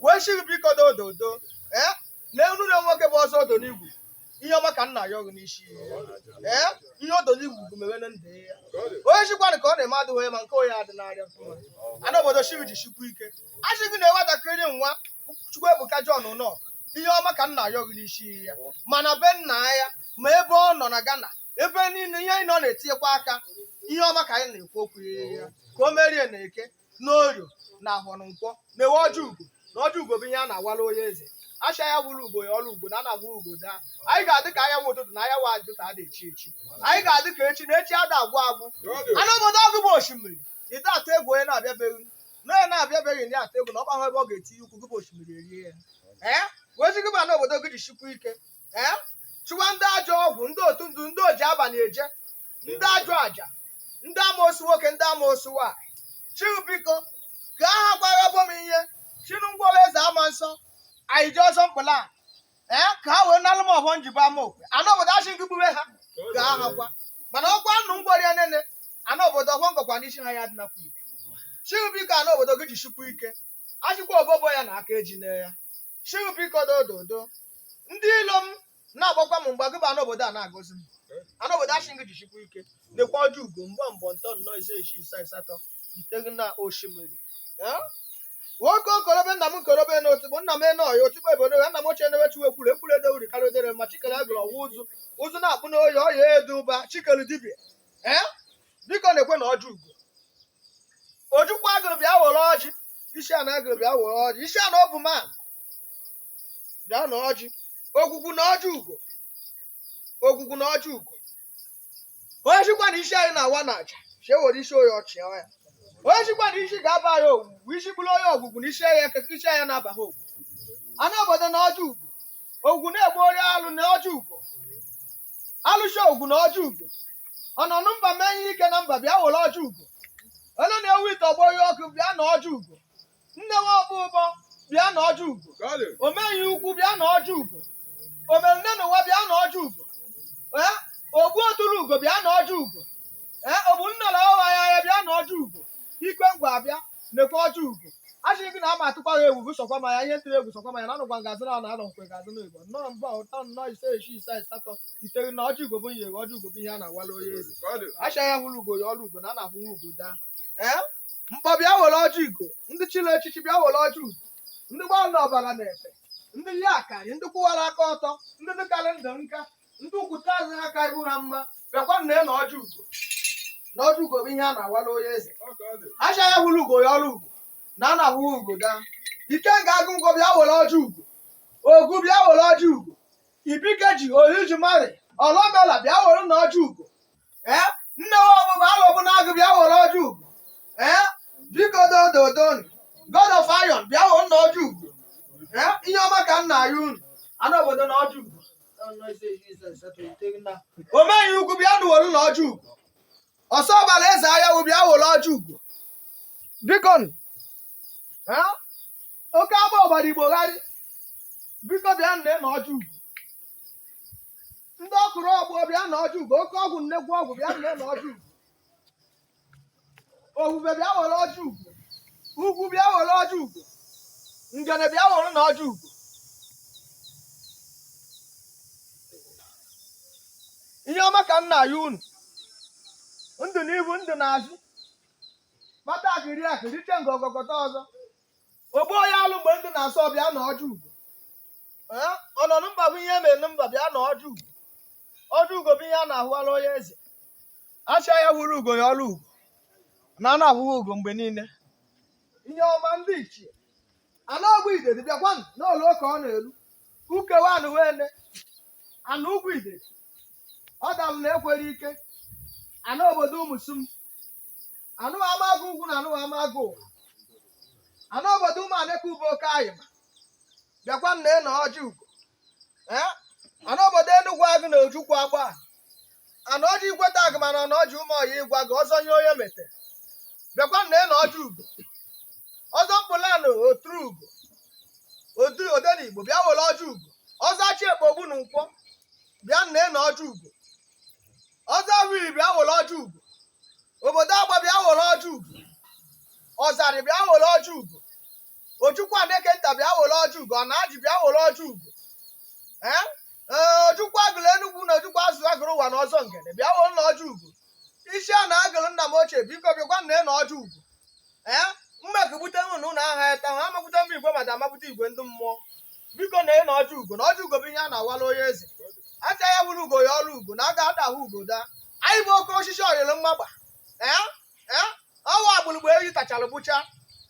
wee sị gị biko dododo ee lee unu na nwoke bụ ọzọ odo n'igwu ihe ọma ka m na-ayọ gụ n'isi ee ihe odo n'igwu bụ mewere ndị ya onye sịkwanụ ka ọ na-eme adịghị onye ma nke onye adị n'arịa mfụma ana obodo sị gị jisikwa ike a sị gị na nwatakịrị nwa Chukwuebuka John nọ ihe ọma ka m na-ayọ gụ n'isi ya ma na be nna ya ma ebe ọ nọ na Ghana ebe niile ihe anyị nọ na-etinyekwa aka ihe ọma ka anyị na-ekwu okwu ya ka o merie na eke na orie na ahọ na nkwọ nekwe ọjị ugo na ọjị ugo bụ ihe a na-awara onye eze a sị onye hụrụ ugo ya ọrụ ugo na ana ahụ ugo daa anyị ga-adị ka anyanwụ ụtụtụ na anyanwụ ajụ ka a na-echi echi anyị ga-adị ka echi na echi ada agwụ agwụ ana obodo gụ bụ osimiri ide atụ egwu onye na-abịabeghị na onye na-abịabeghị na ya atụ egwu na ọ maghị ebe ọ ga-etinye ụkwụ gị bụ osimiri erie ya ee wee sị gị bụ ana obodo gị jisikwa ike ee chụwa ndị ajọ ọgwụ ndị otu ndụ ndị oji abalị eje ndị ajọ aja ndị amoosu nwoke ndị amoosu nwaanyị sị gị biko ka aha gwara bụ m ihe chinu ngwọrọ eze ama nsọ anyị ji ọzọ mkpụla a ee ka ha wee nalụ m ọhọ m jibe ama okwe ana obodo asị m gị gbue ha ka aha gwa mana ọkwa nnụ ngwọrọ ya nene ana obodo ọhọ m gọkwa n'isi ha ya dị nakwa ike sị gị biko ana obodo gị jisikwa ike a sịkwa obobo ya na aka eji lee ya sị gị biko dododo ndị ilo m na-agbakwa m mgba gị bụ ana obodo a na-agọzi m ana obodo asị m gị jisikwa ike nekwa ọjị ugo mbụ mbọ ntọ nnọ ise isii isaa asatọ iteghị na osimiri Eh? nwoke okorobe nna m nkorobe na otigbo nna m eno ọya otigbo ebodo ya nna m ochie newe chiwe kwuru ekwuru ede uri karịa odere ma chi kere agwụ ọwa ụzụ ụzụ na-akpụ n'oyi ọya eduba chi kere dibia ee biko nekwenụ ọjị ugo ojukwu agwụ bịa were ọjị isi a na agwụ bịa were ọjị isi a na ọ bụ man bịa na ọjị ogwugwu na ọjị ugo ogwugwu na ọjị ugo onye sịkwa na isi anyị na-awa na aja chie were isi onye ọchị ya onye sịkwa na isi ga-aba ya ogwugwu isi bụrụ onye ogwugwu na isi ya isi ya na-aba ha ogwugwu ana obodo na ọjị ugo ogwugwu na-egbu ori alụ na ọjị ugo alụsị ogwugwu na ọjị ugo ọnọ na mba eme ihe ike na mba bịa were ọjị ugo elu na-ewu ite ọgbọ ihe ọkụ bịa na ọjị ugo ndewo ọkpọ ụbọ bịa na ọjị ugo ome ihe ukwu bịa na ọjị ugo omerune na ụwa bịa na ọjị ugo ee ogbu otulu ugo bịa na ọjị ugo ee ogbu nnọrọ ọgha ya bịa na ọjị ugo ikenga bịa nekwa ọjị ugo a sị gị na ama atụkwa ha egwu sọkwa ma ya ihe ntụrụ egwu sọkwa ma ya na anụgwa ngazị na anọ nkwe gazị na igbo nnọọ mbụ ntọ nnọ ise isii isaa asatọ iteghị na ọjị ugo bụ ihe ọjị ugo bụ ihe a na-awala onye eze a sị onye hụrụ ugo ya ọrụ ugo na a na-ahụ ugo daa ee mkpọ bịa were ọjị ugo ndị chile echichi bịa were ọjị ugo ndị gbala ọbara na-efe ndị ha karị ndị kwụwara aka ọtọ ndị dịkarị ndụ nka ndị ukwute azụ ha ka ihu ha mma bịakwanụ n'ọjị ugo na ọjị ugo bụ ihe a na-awala onye eze a sị onye hụrụ ugo ya ọrụ ugo na a na-ahụ ugo daa ikenga agụ ngwo bịa were ọjị ugo ogu bịa were ọjị ugo ibike ji oriji mari ọlọmela bịa werenụ ọjị ugo ee nne wa ọbụba alọbụ n'agụ bịa were ọjị ugo ee biko dododon god of iron bịa werenụ ọjị ugo ee ihe ọma ka m na-ayọ unu anị obodo n'ọjị ugo omeyi ukwu bịanụ wolunụ ọjị ugo ọsọ ọbala eze ahịa wụ bịa wolu ọjị ugo biko nụ, ha? oke ama ọbara igbo gharị biko bịanụ n'ọjị ugo ndị ọkụrụ ọgbọ bịa n'ọjị ugo oke ọgwụ nnekwu ọgwụ bịanụ n'ọjị ugo Ohube bịa were ọjị ugo. Ugwu bịa were ọjị ugo. Ngene bịa werenụ ọjị ugo. Ihe ọma ka m na-ayọ unu. Ndị n'ihu ndị n'azụ. Kpata akụ rie akụ riche nke ọgọgọta ọzọ. Ogbu onye alụ mgbe ndụ na-asọ bịa n'ọjị ugo. Ee, ọ nọ na mba akọ ihe mere na mba bịa n'ọjị ugo. Ọjị ugo bụ ihe a na-awara onye eze. A sị onye hụrụ ugo ya ọrụ ugo na a na-ahụghị ugo mgbe niile. Ihe ọma ndị ichie ana ọgwụ idedi bịakwa n'ụlọ ụka ọ na-elu u kewanụ were ana ugwu ide ọ dalụ na ekwere ike ana obodo ụmụsum anị amagụ ugwu na anị amagụ ụwa anị obodo ụmụ aneke ube oke anyị ma bịakwanụ n'ọjị ugo ee anị obodo enugwu agụ na ojukwu agba anị ọjị ikweta agụ mana ọnụ ọjị ụmụ ọya ịgwa gị ọzọ nye onye mete bịakwanụ n'ọjị ugo ọzọ mkpụlanụ oturu ugo odenigbo bịa were ọjị ugo ọzọ achị ekpogbu na nkwọ bịanụ n'ọjị ugo ọzọ wiri bịa were ọjị ugo obodo agba bịa were ọjị ugo ọzarị bịa were ọjị ugo ojukwu aneke nta bịa were ọjị ugo ọ na-ajị bịa were ọjị ugo ee ee ojukwu agụrụ enugwu na ojukwu azụ agụrụ ụwa na ọzọ ngede bịa werenụ ọjị ugo isi a na-agụrụ nna m ochie biko bịakwanụ n'ọjị ugo ee mma kegbute nụ na ụlọ aha ya taa ha amakwute mba igwe mada amakwute igwe ndị mmụọ biko na ị n'ọjị ugo na ọjị ugo bụ ihe a na-awala onye eze a sị onye hụrụ ugo ya ọrụ ugo na aga ada ahụ ugo daa anyị bụ oke osisi ọyịrị mmagba ee ee ọwa agbụrụgba eyi tachara bụcha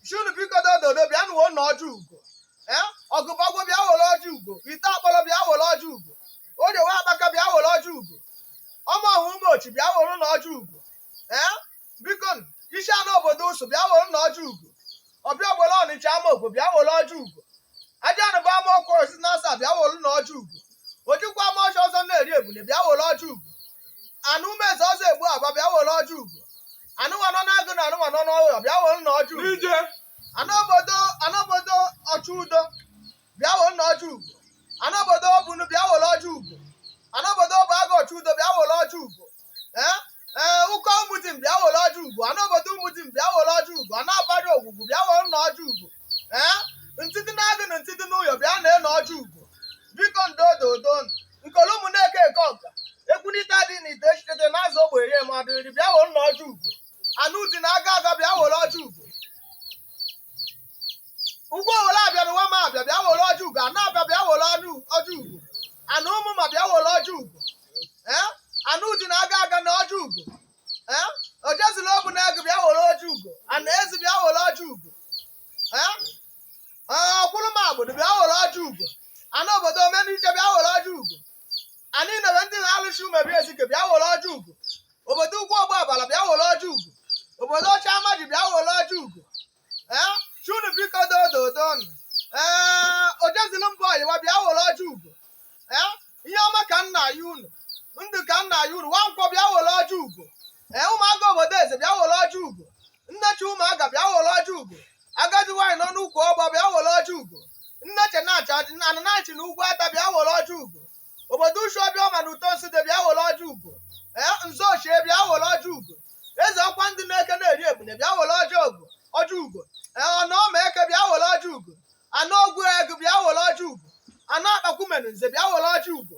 shunu biko dododo bịanụ n'ọjị ugo ee ọgụbọgwụ bịa were ọjị ugo ite akpọrọ bịa were ọjị ugo odewe akpaka bịa were ọjị ugo ọma ọhụ ụmụ ochi bịa werenụ ọjị ugo ee biko isi ana obodo ụsụ bịa werenụ ọjị ugo ọbịa ogbere ọnịcha ama okwu bịa were ọjị ugo aja ana bụ ama ọkwa osi na asa bịa werenụ ọjị ugo ojikwa ama ọcha ọzọ na-eri ebune bịa were ọjị ugo ana umeze ọzọ egbu aba bịa were ọjị ugo ana nwanọ n'agụ na ana nwanọ n'ọhụrụ bịa werenụ ọjị ugo ije ana obodo ana obodo ọchụ udo bịa werenụ ọjị ugo ana obodo obunu bịa were ọjị ugo ana obodo obu agụ ọchụ udo bịa were ọjị ugo ee ee ụkọ ụmụdim bịa were ọjị ugo ana obodo ụmụdim bịa were ọjị ugo ana abara ogwugwu bịa werenụ ọjị ugo ee ndị dị n'agụ na ndị dị n'ụyọ bịa na na ọjị ugo biko ndo odo odo nkolo ụmụ na-eke eke ọga ekwunita dị na ite echitete na azụ ogbe rie ma dịrị bịa werenụ ọjị ugo ana dị na aga aga bịa were ọjị ugo ugbo were abịa n'ụwa ma abịa bịa were ọjị ugo ana abịa bịa werenụ ọjị ugo ana ụmụ ma bịa were ọjị ugo ee ana uji na-aga aga na ọjị ugo ee ojezili obu na ego bịa were ọjị ugo ana ezi bịa were ọjị ugo ee ọkwụrụ ma obodo bịa were ọjị ugo ana obodo omeniche bịa were ọjị ugo anyị nebe ndị na-alụchi umebi ezike bịa were ọjị ugo obodo ugwu ọgba abala bịa were ọjị ugo obodo ọcha amaji bịa were ọjị ugo ee sị unu biko dododonu ee ojezili mba ọyịwa bịa were ọjị ugo ee ihe ọma ka m na-ayọ unu ndụ ka m na-ayọ unu nwa nkwọ bịa were ọjị ugo ee ụmụaka obodo eze bịa were ọjị ugo nnechi ụmụaka bịa were ọjị ugo agadi nwaanyị nọ n'ukwu ọgba bịa were ọjị ugo nnechi na-achị ọjị na ananachi na ugwu ata bịa were ọjị ugo obodo uchu ọbịa ọma na uto nsụde bịa were ọjị ugo ee nze ochie bịa were ọjị ugo eze ọkwa ndị na-eke na-eri ebune bịa were ọjị ugo ọjị ugo ee ọna ọma eke bịa were ọjị ugo ana ogwu ego bịa were ọjị ugo ana akpakwumenu nze bịa were ọjị ugo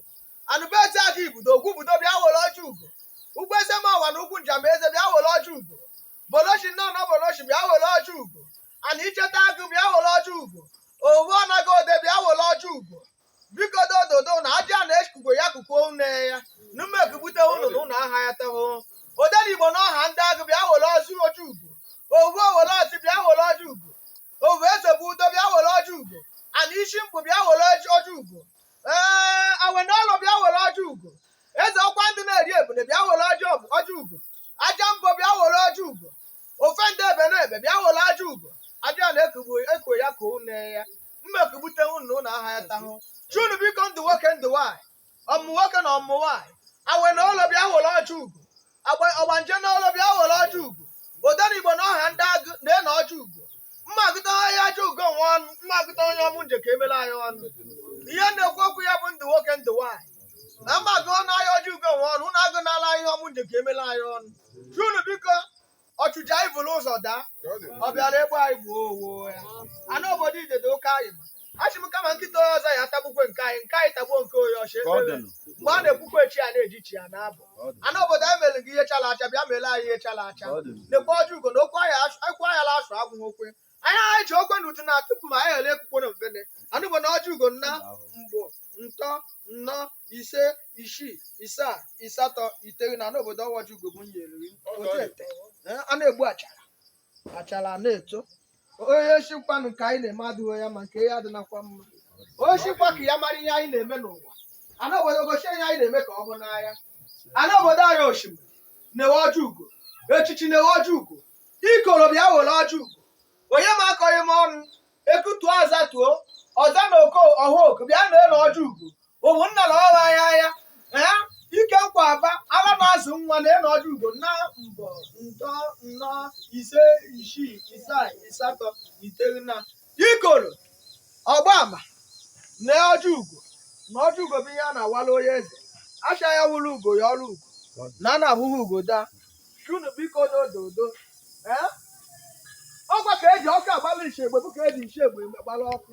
anụbeti aka ibudo ogwubudo bịa were ọjị ugo ugwu eze ma ọwa na ugwu njamba eze bịa were ọjị ugo bolochi nne ọnọ bolochi bịa were ọjị ugo ana icheta agụ bịa were ọjị ugo owu ọnaghị ode bịa were ọjị ugo biko dododo na ajị a na-ekugo ya kukuo une ya numekugbute ụnụ na ụnụ aha ya teho odenigbo na ọha ndị agụ bịa were ọjị ọjị ugo owu owere ọjị bịa were ọjị ugo ovu eze bụ udo bịa were ọjị ugo ana isi mkpu bịa were ọjị ọjị ugo ee awene ọlụ bịa were ọjị ugo eze ọkwa ndị na-eri ebune bịa were ọjị ọjị ugo aja mbọ bịa were ọjị ugo ofe ndị ebe na ebe bịa were ọjị ugo aja na ekugbu ekwe ya ka une ya mma ekwugbute unu na aha ya tahụ sị unu biko ndụ nwoke ndụ nwaanyị ọmụmụ nwoke na ọmụmụ nwaanyị awe na olo bịa were ọjị ugo Agba- ọgbanje na olo bịa were ọjị ugo Odenigbo na ọha ndị agụ na-ana ọjị ugo mmagụta aha ọjị ugo nwe ọnụ mmagụta ihe ọmụ nje ka emela anyị ọnụ ihe na-ekwu okwu ya bụ ndụ nwoke ndụ nwaanyị na mmagụ aha ọjị ugo nwe ọnụ na agụ n'ala ihe ọmụ nje ka emela anyị ọnụ sị unu biko ọchụcha anyị buru ụzọ daa ọ bịara egbu anyị gbuo onwe ya ana obodo idede oke anyị ma asị m kama nkịta onye ọzọ ya atagbukwe nke anyị nke anyị tagbuo nke onye ọzọ Ka ọ dị nụ. mgbe a na-ekwukwe chi a na-eji chi a na-abọ Ka ọ dị. ana obodo anyị mere gị ihe chala acha bịa mere anyị ihe chala acha Ka ọ dị nụ. nekwe ọjị ugo na okwu ahịa asụ- okwu ahịa la asụ agwụghị okwe anyị agha ji okwe n'utu na tupu ma anyị ghele ekwukwo na mfene ana obodo na ọjị ugo nna mbọ ntọ nnọ ise isii isaa ịsatọ iteghị ana obodo ọjị ugo bụ nyere otete a na-egbu achara achara na-eto onye sịkwanụ nke anyị na-eme adịghị ya mma nke ya adịnakwa mma onye sịkwa ka ya mara ihe anyị na-eme n'ụwa ana obodo gosi ihe anyị na-eme ka ọ hụ n'anya ana obodo anyị osimiri na-ewe ọjị ugo echichi na-ewe ọjị ugo ikoro bịa were ọjị ugo onye m akọghị m ọnụ ekutuo azatuo ọza na oko ọha oku bịa na elu ọjị ugo ụmụnna na ọha ya ya ee ike nkwa aba ala na-azụ nwa na elu ọjị ugo nna mbọ ntọ nnọ ise isii isaa ịsatọ iteghị na ikoro ọgba ama na ọjị ugo na ọjị ugo bụ ihe a na-awala onye eze acha ya hụrụ ugo ya ọrụ ugo na a na-ahụghị ugo daa unu biko n'ododo ee ọkwa ka eji ọkụ agbalị nshi egbe bụ ka eji nshi egbe gbara ọkụ